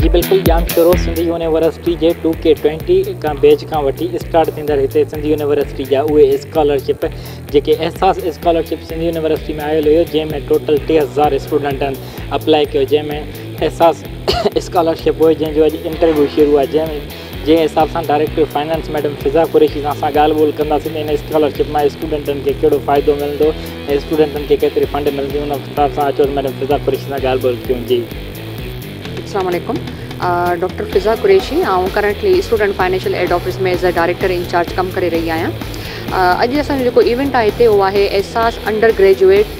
جي بلڪل Jamshoro Sindh university جي ٽو ڪي ٽوئنٽي بيچ کان وٺي اسٽارٽ ٿيندڙ هتي سنڌ يونيورسٽي جا اهي اسڪالرشپ جيڪي احساس اسڪالرشپ سنڌ يونيورسٽي ۾ آيل هيو جنهن ۾ ٽوٽل 3000 اسٽوڊنٽن اپلائي ڪيو جنهن ۾ احساس اسڪالرشپ هئي جنهن جو اڄ انٽرويو شروع آهي جنهن ۾ جنهن حساب سان director finance madam Fiza Qureshi سان اسان ڳالهه ٻولهه ڪنداسين ته هن اسڪالرشپ مان اسٽوڊنٽن کي ڪهڙو فائدو ملندو ۽ اسٽوڊنٽن کي ڪيتري فنڊ ملندي ان حساب سان اچو ته ميڊم فضا قريشي سان ڳالهه ٻولهه ڪيون جي السلام عليڪم ڊاڪٽر فضا قريشي آئون currently student financial aid office ۾ as a director incharge ڪم ڪري رهي آهيان اڄ اسانجو جيڪو ايونٽ آهي هتي اهو آهي احساس انڊر گريجويٽ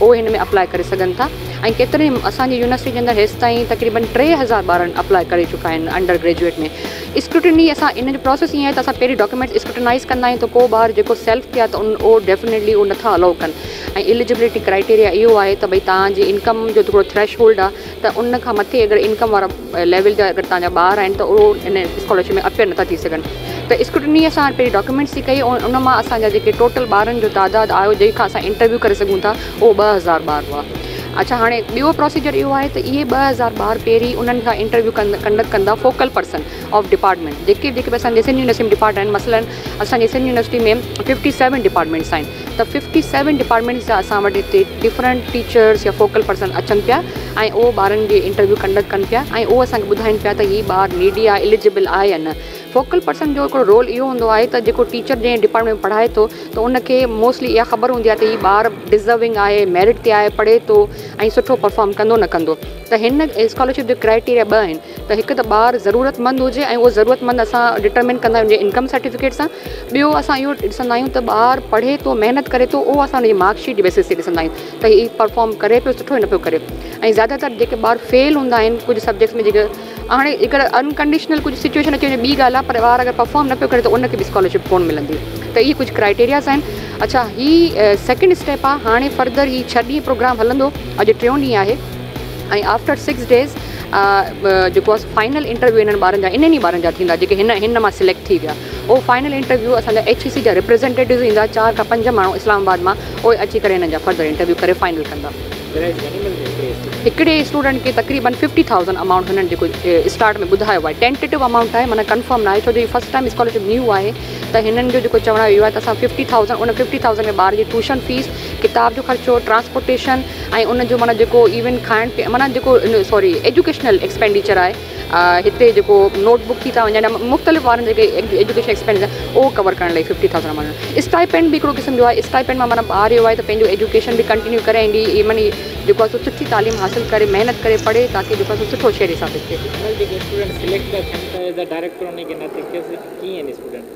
اهي هن ۾ اپلاء ڪري سگهن ٿا ۽ ڪيترن ئي اسان جي يونيورسٽي جي اندر هيستائين تقريبن ٽي هزار ٻارن اپلاء ڪري چڪا آهن انڊر گريجوئيٽ ۾ اسڪروٽني اسان ان جو پروسيس ائين آهي ته اسان پهرين ڊاڪيومينٽس اسڪروٽنائز ڪندا آهيون ته ڪو ٻار جيڪو سيلف ٿئي ها ته ان اهو ڊيفنيٽلي اهو نٿا الائو ڪن ۽ اليجبلٽي ڪرائيٽيريا اهو آهي ته ڀئي توهان جي انڪم جو ٿورو ٿريش هولڊ آهي ته ان کان مٿي اگر انڪم وارا ليول جا اگر تنهنجا ٻار آهن ته اهو ان اسڪالرشپ ۾ اپيئر نٿا ٿي سگهن ته اسڪرٽني اسان پنهنجي ڊاڪيومينٽس جي ڪئي ۽ ان مان اسان جا جيڪي ٽوٽل ٻارن جو تعداد آيو جنهن کان اسان انٽرويو ڪري سگهون ٿا اهو ٻه هزار ٻار هئا اڇا هاڻي ٻيو پروسيجر اهو آهي ته اهي ٻه هزار ٻار پهرين انهن کان انٽرويو ڪن ڪنڊڪ ڪندا فوڪل پرسن آف ڊپارٽمينٽ جيڪي جيڪي به اسان جي سنڌ يونيورسٽي ڊپارٽمينٽ مثلاً اسان جي Sindh university ۾ fifty seven departments آهن ته ففٽي سيون ڊپارٽمينٽس جا اسان وٽ هتي ڊفرنٽ ٽيچرس يا فوڪل پرسن اچن پيا ۽ اهو ٻارن جي انٽرويو ڪنڊڪٽ ڪن پيا ۽ اهو اسان کي ٻڌائين پيا ته هي ٻار نيڊي آهي اليجبل آهي يا نه فوڪل پرسن جو هڪڙو رول اهو هوندو آهي ته جيڪو ٽيچر جنهن ڊپارٽمينٽ ۾ پڙهائي ٿو ته ان کي موسٽلي اها خبر هوندي آهي ته هي ٻار ڊزرونگ آهي ميرٽ تي آهي پڙهي ٿو ۽ سٺو پرفارم ڪندو نه ڪندو ته هن اسڪالرشپ جي ڪرائٽيريا ٻه آهن ته هڪ ته ٻار ضرورتمند هجي ۽ اهو ضرورتمند اسان ڊٽرمن ڪندا آهيون انڪم سرٽيفڪيٽ سان ٻيو اسان اهو ڏسندا آهيون ته ٻار پڙهي ٿو محنت ڪري ٿو اهو اسان انهي مارڪ شيٽ بيسس تي ڏسندا آهيون ته هي پرفارم ڪري پيو سٺو نه پيو ڪري ۽ زياده تر جيڪي ٻار فيل هوندا آهن ڪجهه سبجيڪٽس ۾ جيڪي هاڻي اگر انڪنڊيشنل ڪجهه سچويشن اچي وڃي ٻي ڳالهه پر ٻار اگر پرفارم نه پيو ڪري ته ان کي به اسڪالرشپ ڪونه ملندي ته اهي ڪجهه ڪرائيٽيرياز آهن اڇا هي سيڪنڊ اسٽيپ آهي هاڻي فرڌر هي ڇهه ڏينهن پروگرام هلندو اڄ ٽيون ڏينهن آهي ۽ آفٽر سڪس ڊيز جيڪو آهي فائنل انٽرويو انهن ٻارن جا انهن ئي ٻارن جا ٿيندا جيڪي هن هن مان سليڪٽ ٿي ويا اهو فائنل انٽرويو اسانجا ايڇ اي سي جا ريپريزنٽيٽوز ايندا چار کان پنج ماڻهو اسلام آباد مان اهي اچي ڪري هنن جا فردر انٽرويو ڪري فائنل ڪندا هڪڙي اسٽوڊنٽ کي تقريبن ففٽي ٿاؤزنڊ امائونٽ هنن جيڪو اسٽارٽ ۾ ٻڌايو آهي ٽينٽيو امائونٽ آهي مانا ڪنفرم نه آهي ڇو جو هي فرسٽ ٽائم اسڪالرشپ نيو آهي ته هنن جو جيڪو چوڻ اهو آهي ته اسان ففٽي ٿاؤزنڊ ان ففٽي ٿاؤزنڊ ۾ ٻار جي ٽوشن فيس ڪتاب جو خرچو، ٽرانسپورٽيشن ۽ ان جو معنيٰ جيڪو ايون کائڻ پيئڻ معنيٰ جيڪو سوري ايجوڪيشنل ايڪسپينڊيچر آهي هتي جيڪو نوٽ بڪ ٿي ٿا وڃن يا مختلف وارن جيڪي ايجوڪيشن ايڪسپينڊيچر اهو ڪور ڪرڻ لئي ففٽي ٿائوزنڊ ماڻهن جو اسٽائيپينڊ بي هڪڙو قسم جو آهي اسٽائيپينڊ مان معنيٰ ٻار اهو آهي ته پنهنجو ايجوڪيشن به ڪنٽينيو ڪري ۽ ڏي معني جيڪو آهي سو سٺي تعليم حاصل ڪري محنت ڪري پڙهي تاڪي جيڪو آهي سو سٺو شهري ثابت ٿئي.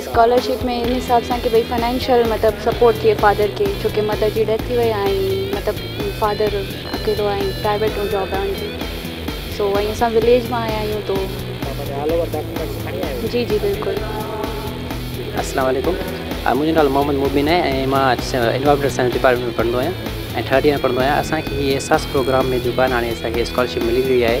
اسڪالرشپ ۾ ان حساب سان ڪي ڀئي فنانشل مطلب سپورٽ ٿئي فادر کي ڇو ڪي مدر جي ڊيٿ ٿي وئي آهي ۽ مطلب فادر اڪيلو آهي پرائيويٽ ۾ جاب آهي انجي سو ۽ اسان وليج مان آيا آهيون تو جي جي بلڪل السلام عليڪم منهنجو نالو محمد مبين آهي ۽ مان انوائرمينٽل سائنس ڊپارٽمينٽ ۾ پڙهندو آهيان ۽ ٿرڊ ايئر ۾ پڙهندو آهيان اسانکي احساس پروگرام ۾ جيڪو آهي هاڻي اسانکي اسڪالرشپ ملي وئي آهي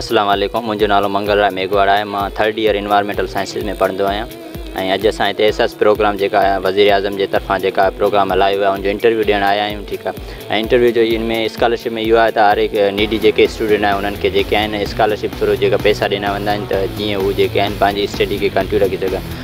اسلام عليڪم منهنجو نالو منگل راء ميگهواڙ آهي مان ٿرڊ ايئر انوائرمينٽل سائنسز ۾ پڙهندو آهيان ۽ اڄ اسان هتي احساس پروگرام جيڪا وزير اعظم جي طرفان جيڪا پروگرام هلايو ويو ان جو انٽرويو ڏيڻ آيا آهيون ٺيڪ آهي ۽ انٽرويو جو ان ۾ اسڪالرشپ ۾ اهو آهي ته هر هڪ نيڊي جيڪي اسٽوڊنٽ آهن انهن کي جيڪي آهن اسڪالرشپ ٿرو جيڪا پيسا ڏنا ويندا آهن ته جيئن هو جيڪي آهن پنهنجي اسٽڊي کي ڪنٽيو رکي سگهن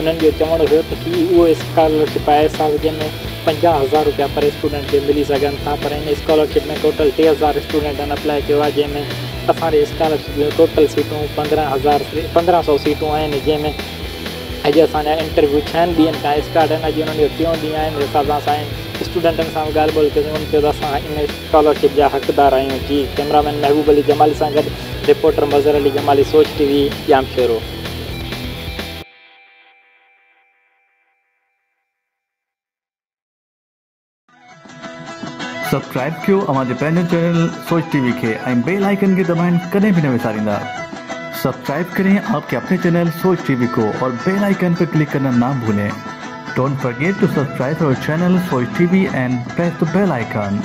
انهن جو چوڻ هيو ته هي اهو اسڪالرشپ آهي سال جنهن ۾ پنجاهه هزار روپيا پر اسٽوڊنٽ کي ملي سگهن ٿا پر ان اسڪالرشپ ۾ ٽوٽل ٽي هزار اسٽوڊنٽن اپلاء ڪيو آهي جنهن ۾ اسان جي اسڪالرشپ جون ٽوٽل سيٽون پندرهن هزار پندرهن سئو سيٽون آهن جنهن ۾ اڄ اسان جا انٽرويو ڇهن ڏينهن کان اسٽارٽ آهن اڄ انهن جو ٽيون ڏينهن آهي ان حساب سان اسان اسٽوڊنٽن سان به ڳالهه ٻولهه ڪيسين انهن چيو ته اسان ان اسڪالرشپ جا حقدار آهيون جي ڪئميرا مين محبوب علي جمالي سان گڏ reporter Mazhar Ali Jamali Soch T V Jamshoro subscribe ڪيو اوهان جي پنهنجو چينل سوچ ٽي وي کي ۽ بيل آئيڪن کي دٻائڻ ڪڏهن به نه وساريندا سبسڪرائب ڪرين آپ ڪي اپني چينل سوچ ٽي وي ڪو اور بيل آئيڪن پي ڪلڪ ڪرنا نا ڀولين ڊونٽ فرگيٽ ٽو سبسڪرائب اور channel Soch T V and press the bell icon